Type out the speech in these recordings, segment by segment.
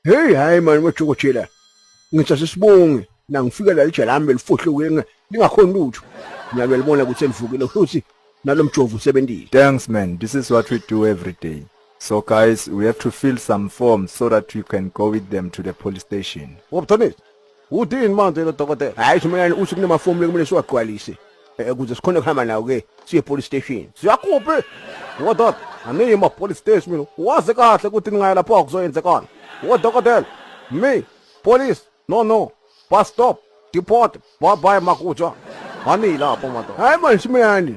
Hey hayi mani wethokothela. Ngithi asisibonge na ngifika la lijela lami belifohluke lingakhona lutho. Ngiyabelibona ukuthi elivukile futhi nalomjovu usebenzile. Thanks man, this is what we do every day. So guys, we have to fill some forms so that you can go with them to the police station. Wabuthanisa, Udini manje lo dokotela. Hayi shumayani uthi kunamafomu lekumele siwagqwalise. Eh kuze sikhone kuhamba nawo ke siye police station. Siyakuphi? Ngododa, aniyi ma police station mina. Wazi kahle ukuthi ningaya lapho akuzoyenzekana. Wodokotela, me, police, no no, bus stop, deport, bye bye makutsha. Ani lapho madoda. Hayi manje shumayani.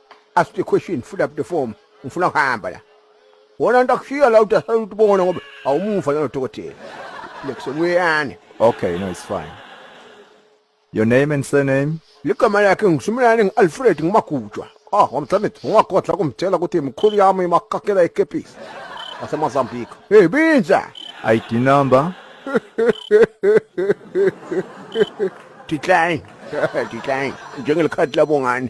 ask the question fill up the form ngifuna ukuhamba la wona nto akushiya la uthi asayuthi ubona ngoba awumuva nalo dokotela lekusomuyane okay no it's fine your name and surname ligama lakhe ngisumelane ngi-alfred ngimagujwa ah wamthamit ungagodla kumtshela ukuthi mkhulu yami imakakela ikepisi wasemozambique hey binja id number decline decline njengelikhadi labongane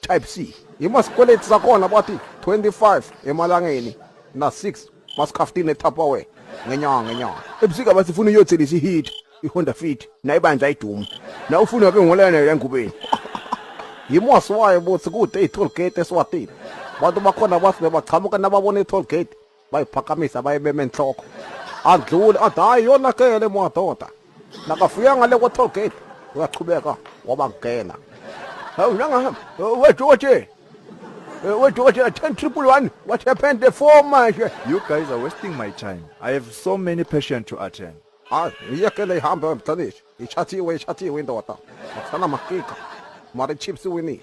type c imasikweleti sakhona bathi 25 emalangeni na-6 masikhaftini etapaware ngenyanga ngenyanga ebusika basifuna uyothelisa ihit ihonda fit nayibandla idumu na ufuna ke ngolene lengubeni yimwasi wayo bothi kude i-toll gate eswatini bantu bakhona bathi bebachamuka nababona i-toll gate bayiphakamisa bayibeme enhloko adlule athi hayi yonakele madoda nakafika ngale kwa-toll gate uyachubeka wabangena hawu nangahamba wedoje wedoje 10 triple one what happened the four manje you guys are wasting my time i have so many patients to attend hayi iyekele ihambe emhlabeni ishathiwe ishathiwe indoda akusana makika mara chips winile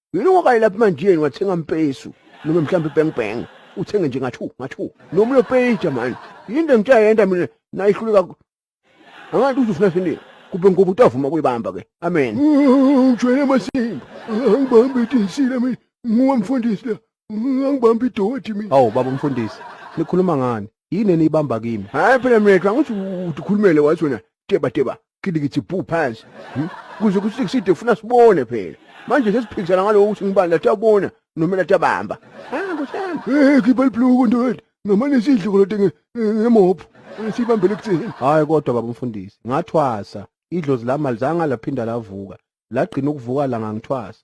yini ungakayi lapha emanjiyeni wathenga mpesu noma mhlawumbe ibang bang uthenge nje ngathu ngathu noma uyopeja mani yinto engitsha yenda mina nayihluleka angathi uzofuna sini kube ngoba utavuma kuyibamba ke amen ujwele amasimba angibambe idisile mina nguwe mfundisi la Angibambi idoti mina. Hawu baba umfundisi, nikhuluma ngani? Yini eniyibamba kimi? Hayi phela mina xa ngithi ukhulumele wathi wena teba teba kidikithi bhu phansi. Hmm? Kuze kuthi kuside funa sibone phela. Manje sesiphikisana ngalowo ukuthi ngibani lathi abona noma lathi abamba. Ah kusami. Eh khipha libhluku ndoda. Ngamane sidle kodwa nge- ngemopho. Sibambele kuthini? Hayi kodwa baba umfundisi, ngathwasa. Idlozi lami alizange laphinda lavuka. Lagcina ukuvuka la ngangithwasa.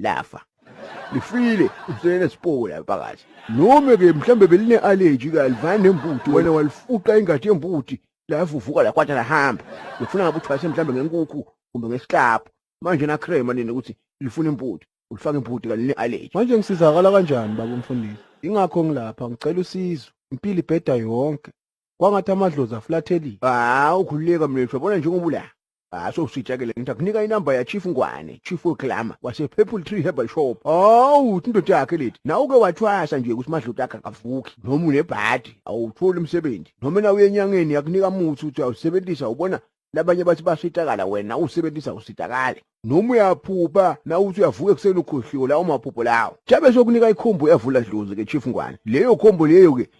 lafa lifile uselele sipowo la phakathi noma ke mhlambe beline allergy kalivana nembuti wena walifuqa ingadi yembuti lavuvuka la kwatha lahamba ngifuna ngabe uthwase mhlambe ngenkukhu kumbe ngesiklapho manje na crema nini ukuthi lifuna imbuti ulifaka imbuti kaline allergy manje ngisizakala kanjani baba umfundisi ingakho ngilapha ngicela usizo impilo ibheda yonke kwangathi amadlozi aflathelile hawu khululeka mlethwa bona njengoba ula Haso usitshekele ngithi akunika inamba ya Chief Ngwane, Chief Oklama wase Purple Tree Herbal Shop. Hawu uthi indoda yakhe lethi. Na uke wathwasa nje ukuthi madlota akhe akavuki noma unebhadi awutholi umsebenzi. Noma na uyenyangeni yakunika muthi uthi awusebenzisa ubona labanye bathi basitakala wena usebenzisa usitakale. Noma uyaphupha na uthi uyavuka ekuseni ukhohliwe lawo maphupho lawo. Jabe sokunika ikhombo yavula dlozi ke Chief Ngwane. Leyo khombo leyo ke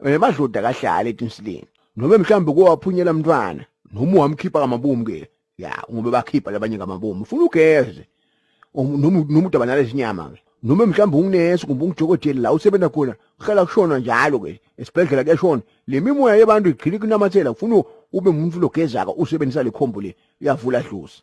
Mina madloda kahlala etinsileni. Noma mhlambe kowaphunyela mntwana noma wamkhipha kamabomu ke. Ya, ngoba bakhipha labanye kamabomu. Ufuna ugeze. Um, Noma noma udabanale izinyama ke. Noma mhlambe unginesi kumbe ungijokoteli la usebenza khona. Kuhlala kushona njalo ke. Esibhedlela kuyashona. Le mimoya yebantu igcina kunamathela ufuna ube umuntu logezaka usebenzisa lekhombo le. Uyavula dlozi.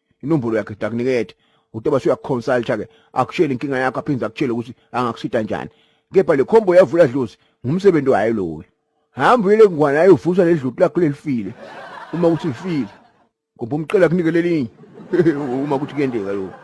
inombolo yakhe sidakunikethe utoba suyakuconsulta ke akutshele inkinga yakho aphinde akutshele ukuthi angakusita njani kepha le khombo yavula dlozi ngumsebenzi wayo lowo hamba uyele ngwana ayovusa ledluti lakho lelifile uma ukuthi lifile ngoba umcela kunike lelinye uma ukuthi kuyendeka lokho